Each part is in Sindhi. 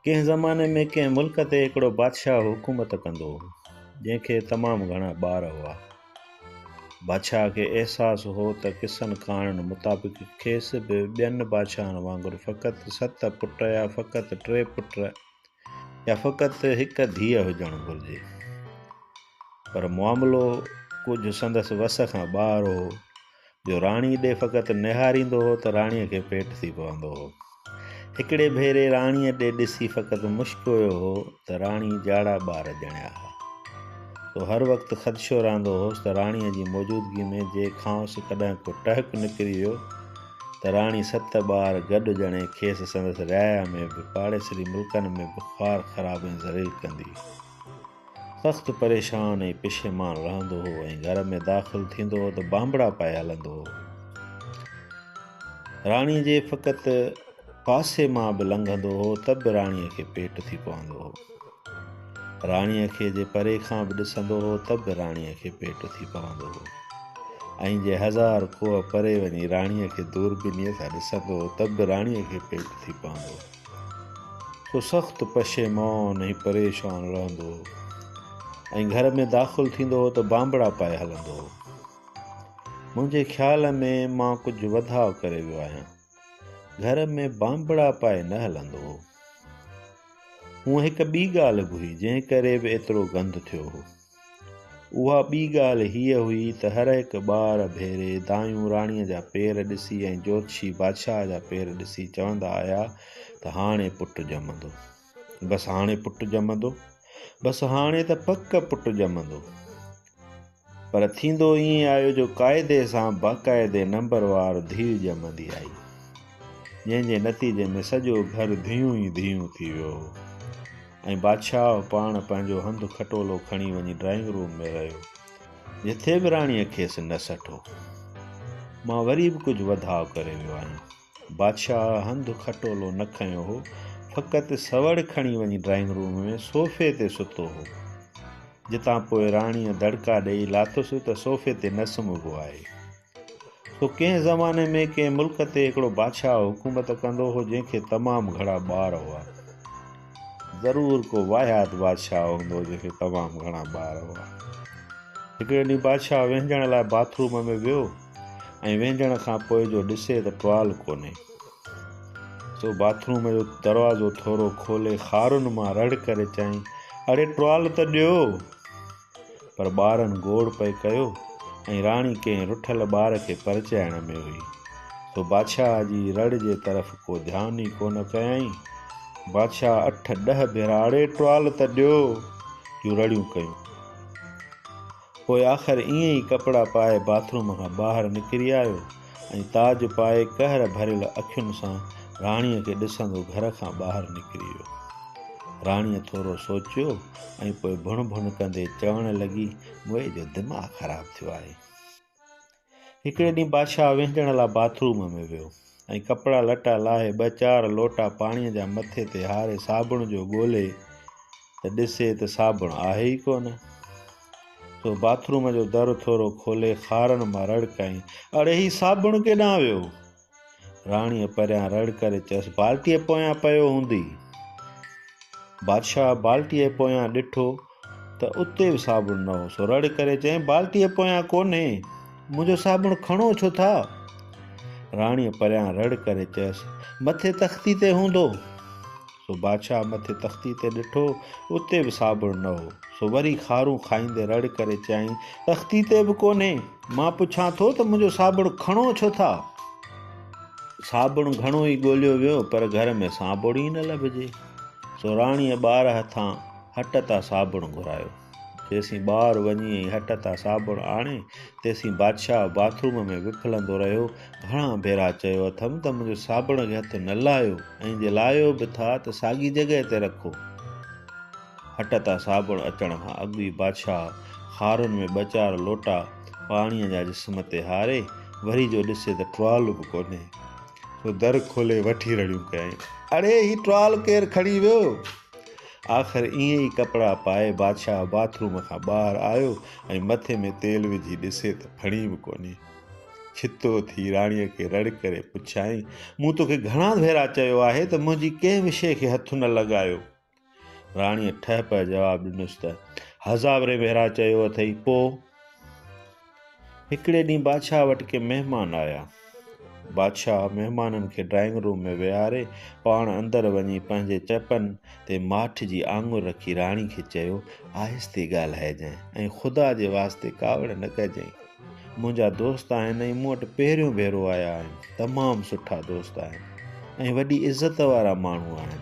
ڪنهن زماني ۾ ڪنهن ملڪ تي هڪڙو بادشاهه حڪومت ڪندو هو جنهن کي تمام گهڻا ٻار هئا. بادشاهه کي احساس هو ته قصن ڪهاڻين مطابق کيس به ٻين بادشاهن وانگر فقط ست پٽ يا فقط ٽي پٽ يا فقط هڪ ڌيء هجڻ گهرجي. پر معاملو ڪجهه سندس وس کان ٻاهر هو. جو راڻي ڏي فقط نهاريندو هو ته راڻيء کي پيٽ ٿي پوندو هو. هڪڙي ڀيري راڻيء ڏي ڏسي فقط مشڪويو هو ته راڻي جاڙا ٻار ڄڻيا ها. سو هر وقت خدشو رهندو هوس ته راڻيء جي موجودگي ۾ جي کانئس ڪڏهن ڪو ٽهڪ نڪري ويو ته راڻي ست ٻار گڏ ڄڻي کيس سندس رعايا ۾ به پاڙيسري ملڪن ۾ به خوار خراب ۽ ذليل ڪندي. سخت پريشان ۽ پشيمان رهندو هو ۽ گهر ۾ داخل ٿيندو هو ته بانبڙا پائي هلندو هو. راڻي جي فقط پاسي مان به لنگهندو هو ته به راڻي کي پيٽ ٿي پوندو هو. راڻي کي جي پري کان به ڏسندو هو ته به راڻي کي پيٽ ٿي پوندو هو ۽ جي هزار ڪوهه پري وڃي راڻي کي دوربينيء سان ڏسندو هو ته به راڻي کي پيٽ ٿي پوندو هو. سو سخت پشيمان ۽ پريشان رهندو هو ۽ گهر ۾ داخل ٿيندو هو ته بانبڙا پائي هلندو هو. منهنجي خيال ۾ مان ڪجهه وڌاء ڪري ويو آهيان. گهر ۾ بانبڙا پائي نه هلندو هو. هونء هڪ ٻي ڳالهه به هئي جنهن ڪري به ايترو گند ٿيو هو. اها ٻي ڳالهه هيء هئي ته هر هڪ ٻار ڀيري دايون راڻيء جا پير ڏسي ۽ جوتشي بادشاهه جا پير ڏسي چوندا آيا ته هاڻي پٽ ڄمندو. بس هاڻي پٽ ڄمندو. بس هاڻي ته پڪ پٽ ڄمندو. پر ٿيندو ائين آيو جو قاعدي سان باقاعدي نمبروار ڌيء ڄمندي آئي. جنهن جي نتيجي ۾ سڄو گهر ڌيون ئي ڌيون ٿي ويو. ۽ بادشاهه پاڻ پنهنجو هنڌ کٽولو کڻي وڃي ڊرائنگ روم ۾ رهيو جتي به راڻيء کيس نه سٺو مان وري به ڪجهه وڌاء ڪري ويو آهيان بادشاهه هنڌ کٽولو نه کنيو هو فقط سوڙ کڻي وڃي ڊرائنگ روم ۾ صوفي تي ستو هو جتان پوء راڻيء دڙڪا ڏيئي لاتس ته صوفي تي نه سمهبو آهي سو ڪنهن زماني ۾ ڪنهن ملڪ تي هڪڙو بادشاهه حڪومت ڪندو هو جنهن کي تمام گهڻا ٻار هئا. ضرور ڪو واهيات بادشاهه هوندو جنهن کي تمام گهڻا ٻار هئا. هڪڙي ڏينهن بادشاهه وهنجڻ لاء باٿ روم ۾ ويو ۽ وهنجڻ کان پوء جو ڏسي ته ٽوال ڪونهي. سو باٿ روم جو دروازو ٿورو کولي خارن مان رڙ ڪري چيائين اڙي ٽوال ته ڏيو. پر ٻارن گوڙ پئي ڪيو ۽ راڻي ڪنهن رٺل ٻار کي پرچائڻ ۾ هئي، سو بادشاهه جي رڙ جي طرف ڪو ڌيان ئي ڪونه ڪيائين. بادشاهه اٺ ڏهه ڀيرا اڙي ٽوال ته ڏيو جون رڙيون ڪيون. پوء آخر ائين ئي ڪپڙا پائي باٿروم کان ٻاهر نڪري آيو. ۽ تاج پائي قهر ڀريل اکين سان راڻيء کي ڏسندو گهر کان ٻاهر نڪري ويو. راڻيء ٿورو سوچيو ۽ پوء ڀڻ ڀڻ ڪندي چوڻ لڳي، موئي جو دماغ خراب ٿيو آهي. هڪڙي ڏينهن بادشاهه وهنجڻ لاء باٿ روم ۾ ويو ۽ ڪپڙا لٽا لاهي ٻه چار لوٽا پاڻيء جا مٿي تي هاري صابڻ جو ڳولي، ته ڏسي ته صابڻ آهي ئي ڪونه. سو باٿ روم جو در ٿورو کولي خارن مان رڙ ڪيائين، اڙي هي صابڻ ڪيڏانهن ويو؟ راڻيء پريان رڙ ڪري چيس، بالٽيء پويان پيو هوندي. بادشاهه بالٽيء پويان ڏٺو ته اتي به صابڻ نه هو، سو رڙ ڪري چيائين، بالٽيء پويان ڪونهي، منهنجو صابڻ کڻو ڇو ٿا؟ راڻيء پريان رڙ ڪري چيس، مٿي تختي تي هوندو. سو بادشاهه مٿي تختي تي ڏٺو، اتي به صابڻ نه هو. سو وري خارون کائيندي رڙ ڪري چيائين، تختي تي به ڪونهي؟ مان پڇان ٿو ته منهنجو صابڻ کڻو ڇو ٿا؟ صابڻ گهڻو ئي ڳوليو ويو پر گهر ۾ صابڻ ئي نه لڀجي. سو راڻيء ٻار هٿان هٽ تان صابڻ گهرايو. تيسين ٻار وڃي ۽ هٽ تان صابڻ آڻي، تيسين بادشاهه باٿروم ۾ وڦلندو رهيو. گهڻا ڀيرا چيو اٿم ته منهنجو صابڻ کي هٿ نه لاهيو ۽ جي لاهيو به ٿا ته ساڳي جڳهه تي رکو. هٽ تان صابڻ اچڻ کان اڳ ئي بادشاهه خارن ۾ ٻه چار لوٽا پاڻيء جا جسم تي هاري، وري جو ڏسي ته ٽوال به ڪونهي. سو در کولي وٺي رڙيون ڪيائين، اڙي هي ٽوال ڪير کڻي ويو؟ آخر ائين ئي ڪپڙا پائي بادشاهه باٿ روم کان ٻاهر آيو ۽ مٿي ۾ تيل وجهي ڏسي ته ڦڻي به ڪونهي. ڇتو ٿي راڻيء کي رڙ ڪري پڇيائين، مون توکي گهڻا ڀيرا چيو آهي ته منهنجي ڪنهن به شيء کي هٿ نه لڳايو. راڻيء ٺهه پهه جواب ڏنس ته، هزاورين ڀيرا چيو اٿئي، پوء؟ هڪڙي ڏينهن بادشاهه وٽ ڪي مهمان آيا. بادشاهه مهمانن کي ڊرائنگ روم ۾ ويهاري پاڻ اندر وڃي پنهنجي چپن تي ماٺ جي آڱر رکي راڻي کي چيو، آهستي ڳالهائجانء ۽ خدا جي واسطي ڪاوڙ نه ڪجانء. منهنجا دوست آهن ۽ مون وٽ پهريون ڀيرو آيا آهن. تمام سٺا دوست آهن ۽ وڏي عزت وارا ماڻهو آهن.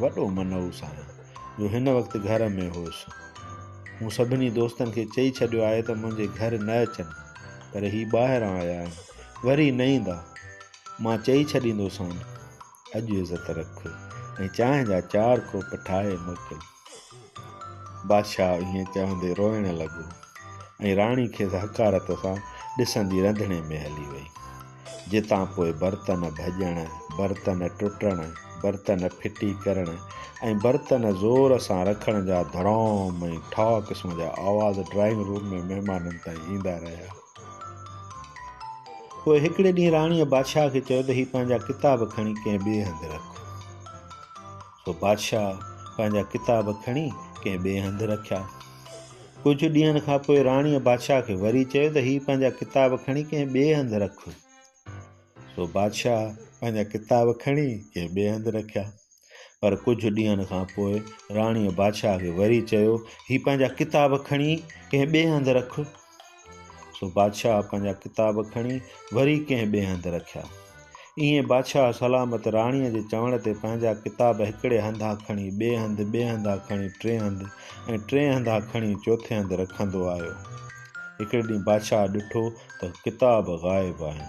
وڏو منئو سان جو هن وقت گهر ۾ هوس. مون سڀني دوستن کي چئي ڇڏيو آهي ته منهنجي گهر نه اچن، پر هي ٻاهران آيا آهن، وري نه ايندا. مان چئي ڇڏيندوسان، اڄ عزت رک ۽ چانهه جا چار ڪوپ ٺاهي موڪل. بادشاهه ائين چوندي روئڻ لڳو ۽ راڻي کيس حقارت سان ڏسندي رنڌڻي ۾ هلي وئي. جتان پوء برتن ڀڄڻ، برتن ٽٽڻ، برتن ڦٽي ڪرڻ ۽ برتن زور سان رکڻ جا ڌڙام ۽ ٺاء قسم جا آواز ڊرائنگ روم ۾ مهمانن تائين ايندا رهيا. پوء هڪڙي ڏينهن راڻيء بادشاهه کي چيو ته هي پنهنجا ڪتاب کڻي ڪنهن ٻئي هنڌ رک. سو بادشاهه پنهنجا ڪتاب کڻي ڪنهن ٻئي هنڌ رکيا. ڪجهه ڏينهن کان پوء راڻيء بادشاهه کي وري چيو ته هي پنهنجا ڪتاب کڻي ڪنهن ٻئي هنڌ رک. سو بادشاهه پنهنجا ڪتاب کڻي ڪنهن ٻئي هنڌ رکيا. پر ڪجهه ڏينهن کان پوء راڻيء بادشاهه کي وري چيو هي پنهنجا ڪتاب کڻي ڪنهن ٻئي هنڌ رک. سو بادشاهه پنهنجا ڪتاب کڻي وري ڪنهن ٻئي هنڌ رکيا. ائين بادشاهه سلامت راڻيء جي چوڻ تي پنهنجا ڪتاب هڪڙي هنڌا کڻي ٻئي هنڌ، ٻئي هنڌا کڻي ٽئين هنڌ ۽ ٽئين هنڌا کڻي چوٿين هنڌ رکندو آيو. هڪڙي ڏينهن بادشاهه ڏٺو ته ڪتاب غائب آهن.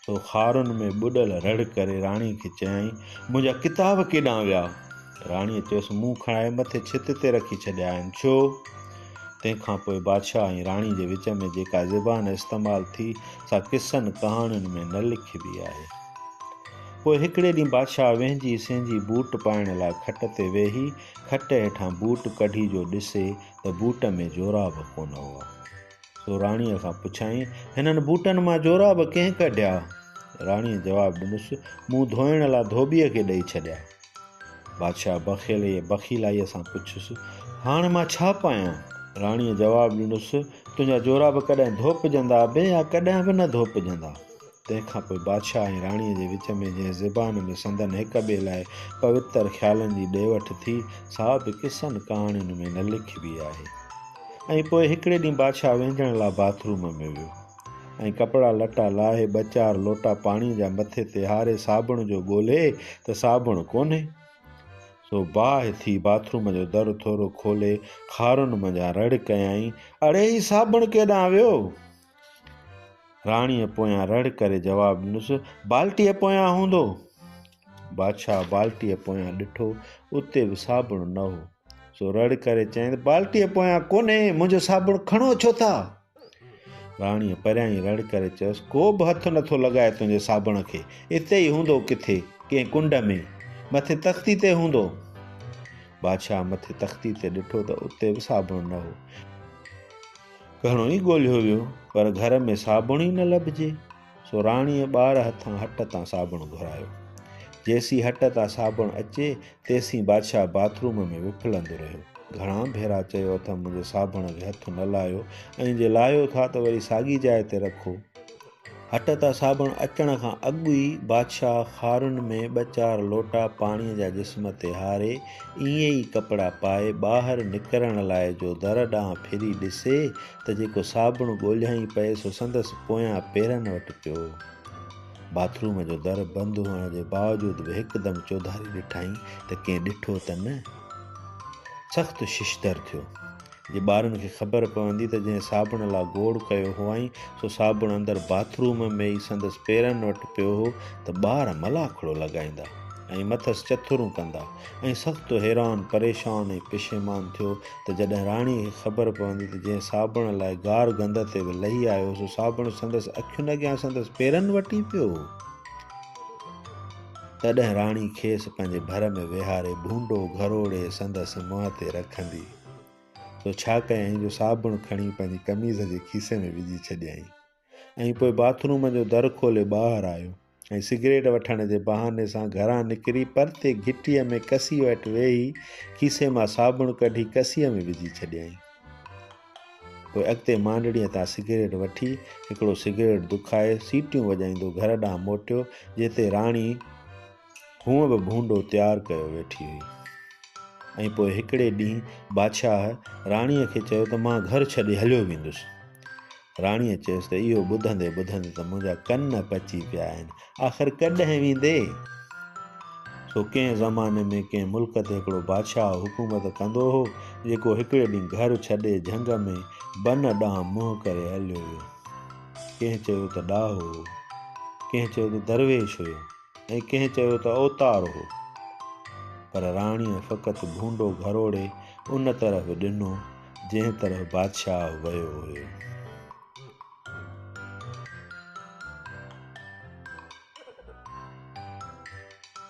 سو خارن ۾ ٻڏل رڙ ڪري راڻي کي چيائين، منهنجا ڪتاب ڪيڏانهن ويا؟ راڻيء چيس، مون کڻائي مٿي ڇت تي رکي ڇڏيا آهن. ڇو؟ تنهن کان پوء بادشاهه ۽ راڻي جي وچ ۾ جيڪا زبان استعمال ٿي، سا قصن ڪهاڻين ۾ نه لکبي آهي. پوء هڪڙي ڏينهن بادشاهه وهنجي سهنجي بوٽ پائڻ لاء کٽ تي ويهي، کٽ هيٺان بوٽ ڪڍي جو ڏسي ته بوٽ ۾ جوراب ڪونه هئا. سو راڻيء کان پڇيائين، هنن بوٽن مان جوراب ڪنهن ڪڍيا؟ راڻيء جواب ڏنس، مون ڌوئڻ لا ڌوٻيء کي ڏئي ڇڏيا. بادشاهه بخيليء بخيلائيء سان پڇيس، هاڻ مان ڇا پايان؟ راڻيء جواب ڏنس، تنهنجا جوراب ڪڏهن ڌوپجندا به يا ڪڏهن به نه ڌوپجندا. تنهن کان پوء بادشاهه ۽ راڻيء جي وچ ۾ جنهن زبان ۾ سندن هڪ ٻئي لاء پوتر خيالن جي ڏي وٺ ٿي، سا به قصن ڪهاڻين ۾ نه لکبي آهي. ۽ پوء هڪڙي ڏينهن بادشاهه وهنجڻ لاء باٿ روم ۾ ويو ۽ ڪپڙا لٽا لاهي ٻه چار لوٽا پاڻيء جا مٿي تي هاري صابڻ جو ڳولهي ته صابڻ ڪونهي، سو باهه ٿي باٿ روم جو در ٿورو کولي خارن منجهان رڙ ڪيائين، اڙي هي صابڻ ڪيڏانهن ويو؟ راڻيء پويان رڙ ڪري جواب ڏنس، بالٽيء پويان هوندو! بادشاهه بالٽيء پويان ڏٺو، اتي به صابڻ نه هو. سو رڙ ڪري چيائين، بالٽيء پويان ڪونهي، منهنجو صابڻ کڻو ڇو ٿا؟ راڻيء پريان ئي رڙ ڪري چيس، ڪو به هٿ نه ٿو لڳائي تنهنجي صابڻ کي، اتي ئي هوندو ڪٿي، ڪنهن ڪنڊ ۾، مٿي تختي تي هوندو! بادشاهه مٿي تختي تي ڏٺو ته اتي به صابڻ نه هو. گهڻو ئي ڳولهيو ويو پر گهر ۾ صابڻ ئي نه لڀجي سو راڻيء ٻار هٿان هٽ تان صابڻ گهرايو جيسين هٽ تان صابڻ اچي تيسين بادشاهه باٿ روم ۾ وڦلندو رهيو گهڻا ڀيرا چيو اٿم منهنجي صابڻ کي هٿ نه لاهيو ۽ جي لاهيو ٿا ته وري ساڳي جاء تي رکو هٽ تان صابڻ اچڻ کان اڳ ئي بادشاهه خارن ۾ ٻه چار لوٽا پاڻيء جا جسم تي هاري، ائين ئي ڪپڙا پائي، ٻاهر نڪرڻ لاء جو در ڏانهن ڦري ڏسي ته جيڪو صابڻ ڳوليائين پئي سو سندس پويان پيرن وٽ پيو هو. باٿ روم جو در بند هئڻ جي باوجود به هڪدم چوڌاري ڏٺائين ته ڪنهن ڏٺو ته نه. سخت ششدر ٿيو. جي ٻارن کي خبر پوندي ته جنهن صابڻ لا گوڙ ڪيو هئائين، سو صابڻ اندر باٿ روم ۾ ئي سندس پيرن وٽ پيو هو ته ٻار ملاکڙو لڳائيندا ۽ مٿس چٿرون ڪندا ۽ سخت حيران، پريشان ۽ پشيمان ٿيو ته جڏهن راڻي کي خبر پوندي ته جنهن صابڻ لاء گار گند تي به لهي آيو هو سو صابڻ سندس اکين اڳيان سندس پيرن وٽ ئي پيو هو. تڏهن راڻي کيس پنهنجي ڀر ۾ ويهاري ڀونڊو گهروڙي سندس منهن تي رکندي. تو ڇا ڪيائين جو صابڻ کڻي پنهنجي قميص جي کيسي ۾ وجهي ڇڏيائين ۽ پوء باٿ روم جو در کولي ٻاهر آيو ۽ سگريٽ وٺڻ جي بهاني سان گهران نڪري پرتي گهٽيء ۾ ڪسيء وٽ ويهي کيسي مان صابڻ ڪڍي ڪسيء ۾ وجهي ڇڏيائين پوء اڳتي مانڊڙيء تان سگريٽ وٺي هڪڙو سگريٽ دکائي سيٽيون وڄائيندو گهر ڏانهن موٽيو جتي راڻي هونء به ڀونڊو تيار ڪيو ويٺي هئي ۽ پوء هڪڙي ڏينهن بادشاهه راڻيء کي چيو ته مان گهر ڇڏي هليو ويندس. راڻيء چيس ته اهو ٻڌندي ٻڌندي ته منهنجا ڪن پچي پيا آهن. آخر ڪڏهن ويندي؟ سو ڪنهن زماني ۾ ڪنهن ملڪ تي هڪڙو بادشاهه حڪومت ڪندو هو، جيڪو هڪڙي ڏينهن گهر ڇڏي جهنگ ۾ بن ڏانهن منهن ڪري هليو ويو. ڪنهن چيو ته ڏاهو هو، ڪنهن چيو ته درويش هيو. ۽ ڪنهن چيو ته اوتار هو، پر راڻيء فقط ڀونڊو گهروڙي ان طرف ڏنو، جنهن طرف بادشاهه ويو هيو.